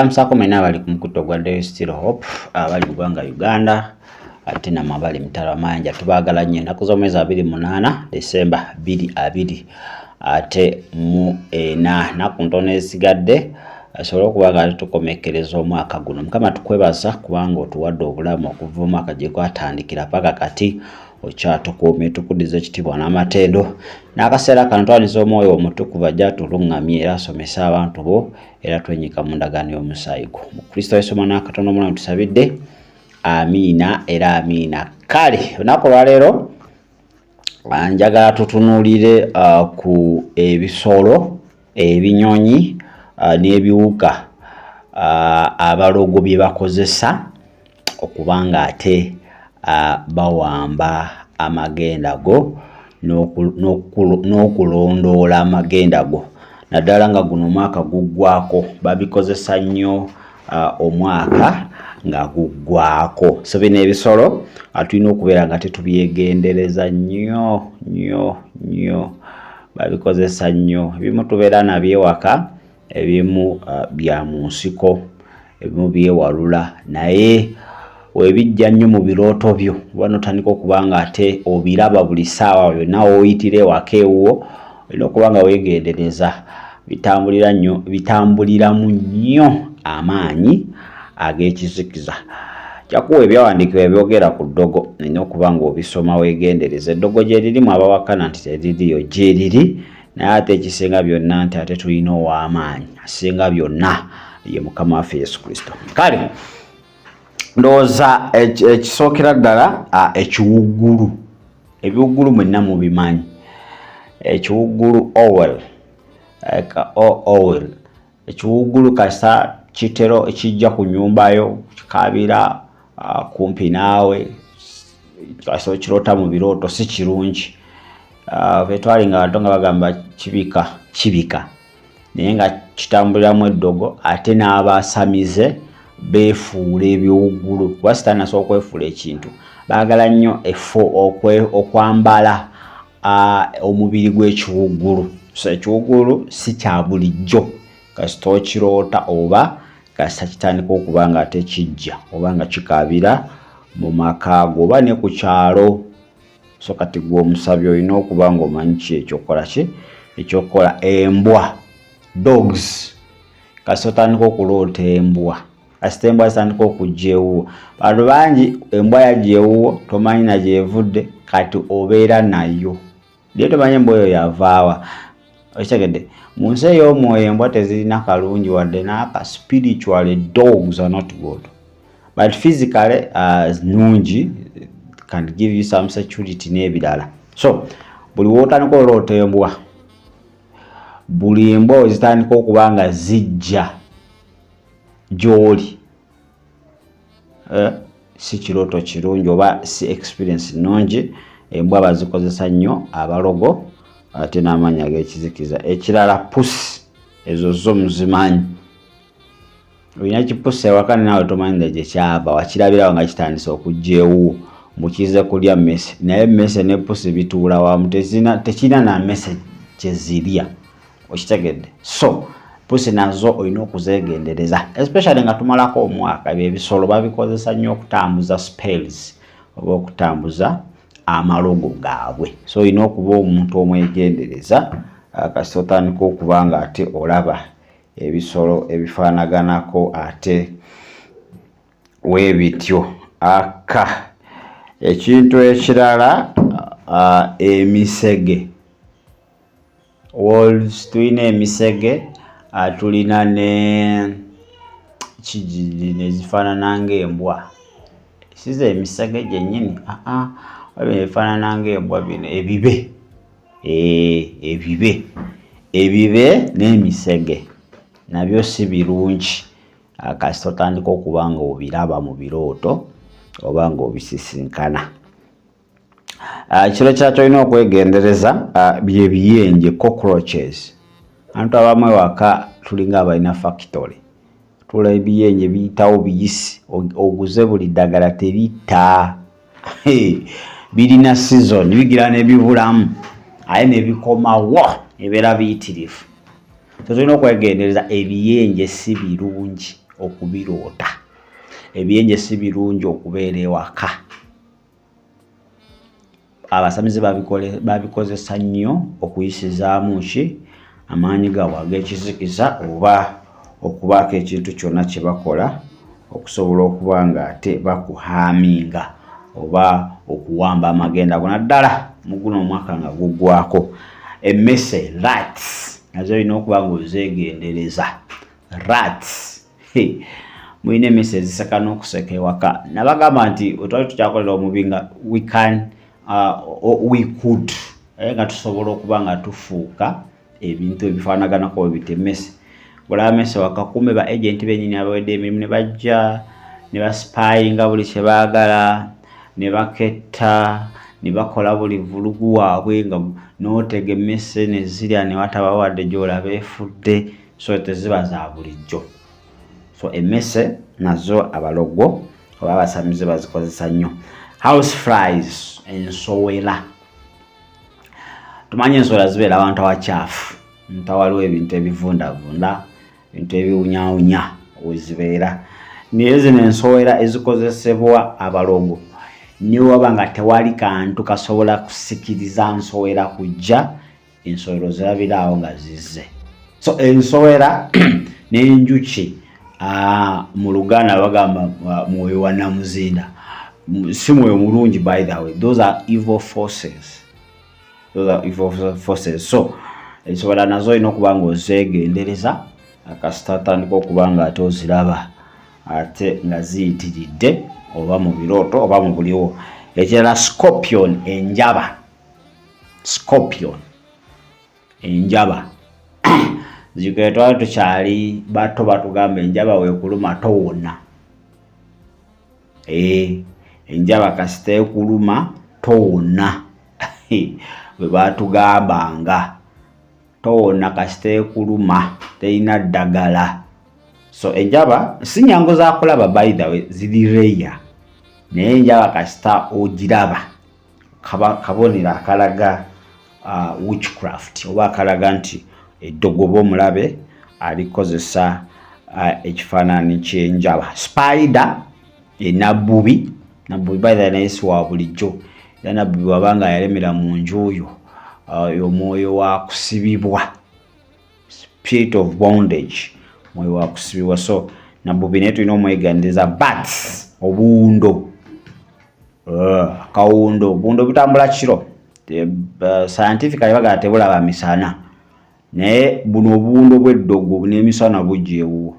amusako mwena abali ku mukutto gwa Daily Still Hope abali mu gwanga Uganda ate namwe abali mitala amayanja tubaagala nnyo ennaku z'omwezi abiri munaana Desemba bbiri abiri ate mu ena naku ntono esigadde asobole okuba nga tukomekkereza omwaka guno mukama tukwebaza kubanga otuwadde obulamu okuva omwaka gye gwatandikira paka kati okyatukuumye tukudiza ekitibwa n'amatendo n'akaseera kano twaniza omwoyo omutukuvu ajja atuluŋŋamye era asomese abantu bo era twenyika mu ndagaano y'omusaayi gwo mu kristo yesu omwana wakatonda omulamu tusabidde amiina era amiina kale olunaku olwaleero njagala tutunuulire uh, ku ebisolo ebinyonyi ah, n'ebiwuka ah, abalogo bye bakozesa okuba ng'ate ah, bawamba amagenda go n'okulondoola amagenda go naddala nga guno omwaka guggwako babikozesa nnyo omwaka nga guggwako so bino ebisolo tulina okubeera nga tetubyegendereza nnyo nnyo nnyo babikozesa nnyo ebimu tubeera nabyo ewaka ebimu uh, bya mu nsiko ebimu byewalula naye webijja nnyo mu birooto byo oba notandika okuba nga ate obiraba buli saawa yonna woyitira ewaka ewuwo olina okuba nga wegendereza bitambulira nnyo bitambuliramu nnyo amaanyi ag'ekizikiza jakuwa ebyawandiikibwa ebyogera ku ddogo nina okuba ng'obisoma weegendereza eddogo gye lirimu abawakana nti teririyo gye liri naye ate ekisinga byonna nti ate tulina ow'amaanyi asinga byonna ye mukama waffe yesu kristo kale ndowooza ekisookera ddala ekiwuggulu ebiwuggulu mwenna mubimanyi ekiwuggulu owel owel ekiwuggulu kasa kitero ekijja ku nyumbayo kikaabira uh, kumpi naawe kasa okirota mu birooto si kirungi uh, betwali nga bantu nga bagamba kibika kibika naye nga kitambuliramu eddogo ate n'abasamize beefuula ebiwuggulu kuba sitaani asobola okwefuula ekintu baagala nnyo efo okwambala omubiri gw'ekiwuggulu so ekiwuggulu si kya bulijjo kasita okiroota oba kasita kitandika okuba nga ate kijja oba nga kikaabira mu maka go oba ne ku kyalo so kati gwe omusabi olina okuba ng'omanyi ki ekyokukola ki ekyokukola embwa dogs kasita otandika okuloota embwa kasita embwa zitandika okujja ewuwo bantu bangi embwa yajja ewuwo tomanyi na gyevudde kati obeera nayo naye tomanyi embwa oyo yavaawa okitegedde mu nsi ey'omwoyo embwa tezirina kalungi wadde n'aka spiritually dogs are not good but physically uh, nungi can give you some security n'ebirala so buli wotandika oloota embwa buli embwa ozitandika okuba nga zijja gy'oli eh, si kirooto kirungi oba si experience nnungi embwa bazikozesa nnyo abalogo ate n'amaanyi ag'ekizikiza ekirala pusi ezo zo muzimanyi olina kipusa ewaka naawe tomanyi nga gyekyava wakirabirawo nga kitandise okugyewo mukize kulya mese naye mese ne pusi bituula wamu tekirina na mese kyezirya okitegedde so pusi nazo olina okuzeegendereza especially nga tumalako omwaka ebyo ebisolo babikozesa nnyo okutambuza spells oba okutambuza amalogo gaabwe so olina okuba omuntu omwegendereza ah, kasita otandika okuba nga ate olaba ebisolo ebifaanaganako ate webityo aka ekintu ekirala ah, emisege Wolves tulina emisege ah, tulina ne kigiri nezifaanana ng'embwa siza emisege gyennyini aa ah, ah, wabino ebifaanana ng'embwa bino ebibe eh, ebibe ebibe n'emisege nabyo si birungi kasita otandika okuba nga obiraba mu birooto oba nga obisisinkana Ah, kiro kya kyolina okwegendereza ah, byebiyenje cockroaches antu abamu ewaka tulinga abalina factory tula ebiyenje biyitawo biyisi oguze buli ddagala tebita birina season bigira nebibulamu aye nebikomawo ebeera biyitirivu so tulina okwegendereza ebiyenje si birungi okubiroota ebiyenje si birungi okubeera ewaka abasamize babikozesa nnyo okuyisizaamu ki amaanyi gaabwe ag'ekizikiza oba okubaako ekintu kyonna kye bakola okusobola okuba nga ate bakuhaaminga oba okuwamba amagenda gona ddala mu guno omwaka nga guggwako emmese rats nazo olina okuba nga ozeegendereza rats mulina emisi eziseka n'okuseka ewaka nabagamba nti wetwali tukyakolera omubi nga we can uh, we could naye nga tusobola okuba nga tufuuka ebintu ebifaanaganako bwe bitemese olaba mese wakakume ba agenti benyini abawedde emirimu ne bajja ne basipayinga buli kye baagala ne baketta ne bakola buli vulugu waabwe nga n'otega emmese ne zirya ne wataba wadde gy'olaba efudde so teziba za bulijjo so emmese nazo abalogwo oba abasamize bazikozesa nnyo house fries ensowera tumanyi ensowera zibeera abantu abakyafu ntawaliwo ebintu ebivundavunda ebintu ebiwunyawunya wezibeera naye zino ensowera ezikozesebwa abalogo newaba nga tewali kantu kasobola kusikiriza nsowera kujja ensowera ozirabira awo nga zizze so ensowera n'enjuki mu luganda bagamba mwoyo wa namuzinda si mwoyo mulungi by the way those are evil forces those are evil forces so ensowera nazo olina okuba nga ozeegendereza akasita atandika okuba nga ate oziraba ate nga ziyitiridde oba mu birooto oba mu buliwo ekirala scorpion enjaba scorpion enjaba zikwe twali tukyali bato batugamba enjaba wekuluma towona eh, enjaba kasita ekuluma towona bwe batugambanga towona kasita ekuluma terina ddagala so enjaba si nyangu zakulaba by the way ziri reya naye enjaba kasita ogiraba kabonero akalaga uh, witchcraft oba akalaga nti eddogo oba omulabe alikozesa uh, ekifaananyi kyenjaba spider enabbubi nabbubi baitha naye si wa bulijjo era nabbubi wabanga yalemera mu nju oyo uh, omwoyo wa kusibibwa spirit of bondage mwoyo wa kusibibwa so nabubi naye tulina omweganiriza but obuwundo eh, akawundo obuwundo butambula kiro eh, scientifically bagala tebulaba misana naye buno obuwundo bw'eddogo n'emisana bujja ewuwo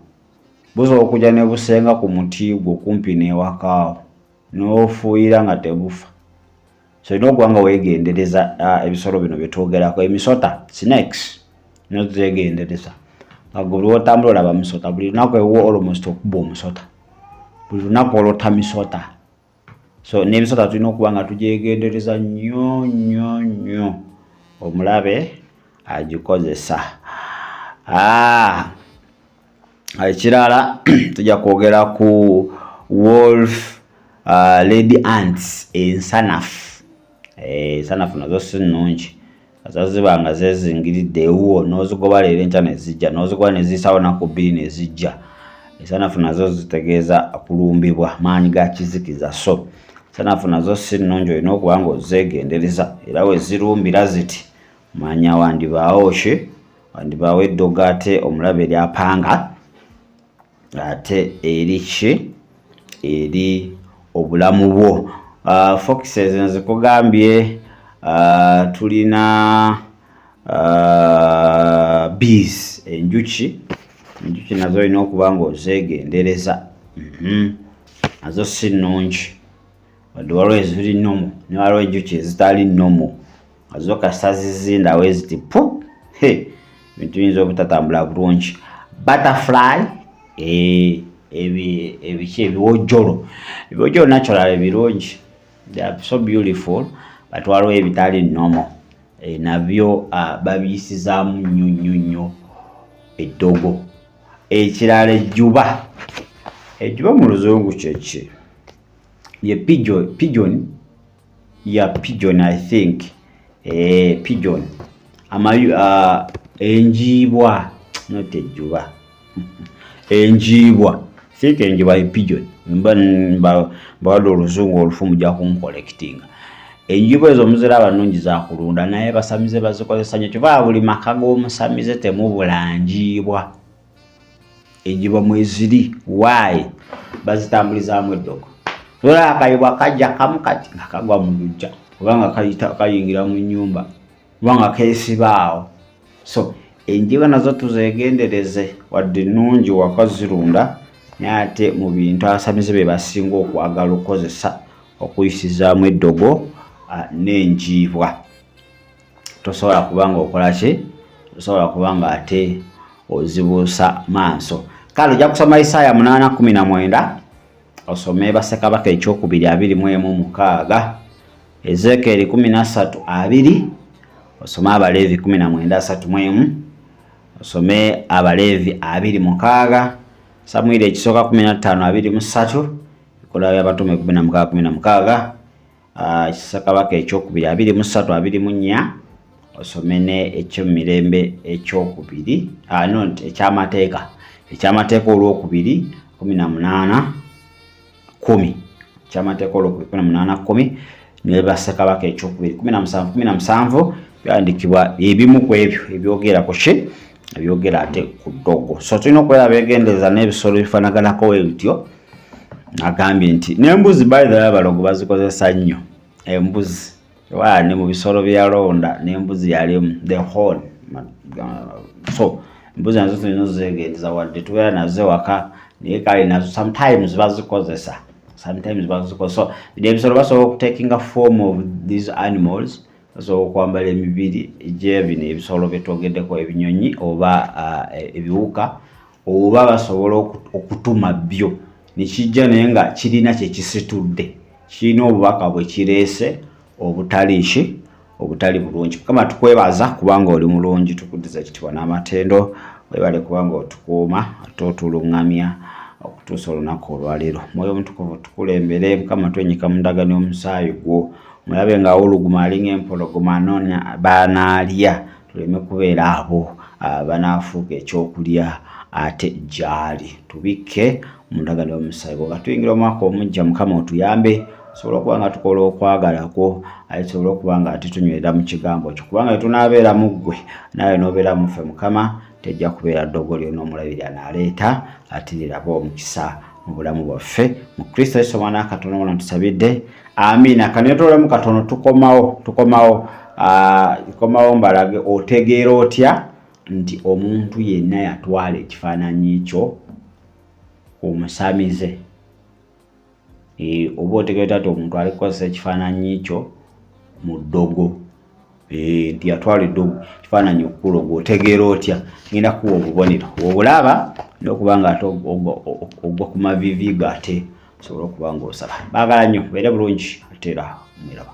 busobola okujja ne busenga ku muti gwo kumpi n'ewakaawo n'ofuuyira nga tebufa so olina okuba nga wegendereza uh, ebisolo bino byetwogerako emisota snakes nyo tuzegendereza agolwotambula olaba misota buli lunaku ewo almost okuba omusota buli lunaku olota misota so nebisota tulina okuba nga tugyegendereza nyo nyo nyo omulabe agikozesa ah. ekirala tujja kwogera ku wolf uh, lady ants ensanafu eh, ensanafu nazo si nnungi azaziba nga zezingiridde ewuwo n'ozigoba leero enkya nezijja n'ozigoba neziyisawo naku bbiri nezijja ensanafu nazo zitegeeza kulumbibwa maanyi ga kizikiza so ensanafu nazo si nnungi olina okuba nga ozeegendereza era wezirumbira ziti manya wandibaawo ki wandibaawo eddogo ate omulaba eri apanga ate eri ki eri obulamu bwo uh, foxes nzikugambye uh, tulina uh, bees enjuki enjuki nazo olina okuba nga ozeegendereza mm -hmm. nazo si nnungi wadde waliwo eziri nomu ne waliwo enjuki ezitali nomu azo kasita zizindawo eziti pu ebintu biyinza obutatambula bulungi butterfly eh, ebiki ebiwojjolo ebiwojjolo naturally birungi they are so beautiful but waliwo ebitali nomo eh, nabyo ah, babiyisizaamu nnyo nnyo nnyo eddogo ekirala ejjuba ejjuba mu luzungu kyeki ye pigeon ya pigeon i think eh, pigeon amayu uh, enjiibwa not ejuba enjiibwa think enjiibwa e pigeon mba mbawala oluzungu olufu muja kunkolekitinga enjiibwa ezo muziraba nungi zakulunda naye basamize bazikozesa nyo kyova buli maka g'omusamize temubula njiibwa enjiba mweziri waayi bazitambulizaamu eddogo ola akayibwa kajja kamu kati nga kagwa mu lujja oba nga kayingira mu nyumba oba nga keesibaawo so enjiba nazo tuzeegendereze wadde nnungi waka zirunda naye ate mu bintu abasamize be basinga okwagala okukozesa okuyisizaamu eddogo ah, n'enjiibwa tosobola kubanga okola ki tosobola kubanga ate ozibuusa maaso kale ojja kusoma isaaya munaana kumi na mwenda osome basekabaka ekyokubiri abiri mu emu mukaaga ezekeeri kumi na ssatu abiri osome abaleevi kumi na mwenda asatu mu emu osome abaleevi abiri mukaaga samwiri ekisooka kumi na ttaano abiri mu ssatu ekolawo y'abatume kumi na mukaaga kumi na mukaaga Ah, kisa kabaka ekyokubiri abiri mu ssatu abiri mu nnya osome ne ekyomumirembe ekyokubiri ah, no ekyamateeka ekyamateeka olwokubiri kumi na munaana kumi ekyamateeka olwokubiri kumi na munaana kumi nebassekabaka ekyokubiri kumi na musanvu kumi na musanvu byandikibwa ebimu ku ebyo ebyogerako ki ebyogera ate ku ddogo so tulina okubeera begendereza n'ebisolo bifanaganako we bityo agambye nti n'embuzi bayidala abalogo bazikozesa nnyo embuzi waa ne mu bisolo byeyalonda n'embuzi yalimu the hall so embuzi nazo tulina ozegendereza wadde tubeera nazo ewaka naye kale nazo sometimes bazikozesa sometimes bazikozesa so ebisolo basobola okutekinga form of these animals z'okwambala emibiri gye bino ebisolo bye twogeddeko ebinyonyi oba e, ebiwuka oba basobola okutuma byo nekijja naye nga kirina kyekisitudde kirina obubaka bwe kireese obutali ki obutali bulungi mukama tukwebaza kubanga oli mulungi tukuddiza ekitibwa n'amatendo webale kubanga otukuuma ate otulungamya okutuusa olunaku olwaleero mwoyo omutukuvu tukulembere mukama twenyika mu ndagano y'omusaayi gwo mulabe nga awuluguma alinga empologoma anoonya banaalya tuleme kubeera abo ah, banaafuuka ekyokulya ate gyali tubikke mu ndagano y'omusaayi gwo nga tuyingira omwaka omujja mukama otuyambe tusobole okuba nga tukola okwagala kwo aye tusobole okuba nga ate tunywera mu kigambo kyo kubanga etunaabeera mu ggwe naawe n'obeera muffe mukama tejja kubeera ddogo lyona omulabiri anaaleeta atiniraba omukisa mu bulamu bwaffe mu kristo yesu omwana katonda wona tusabidde amiina kanetolemu katono tukomawo tukomawo tukomawo mbalage otegeera otya nti omuntu yenna yatwala ekifaananyi kyo omusamize e, oba otegeera otya nti omuntu ali kukozesa ekifaananyi kyo mu ddogo Eh, nti yatwalidde ekifaananyi okukula ogwo otegeera otya ngenda kuwa obubonero obulaba nokuba nga ate ogwa ku mavivi go ate osobola okuba nga osaba baagala nnyo beere bulungi ateera mwiraba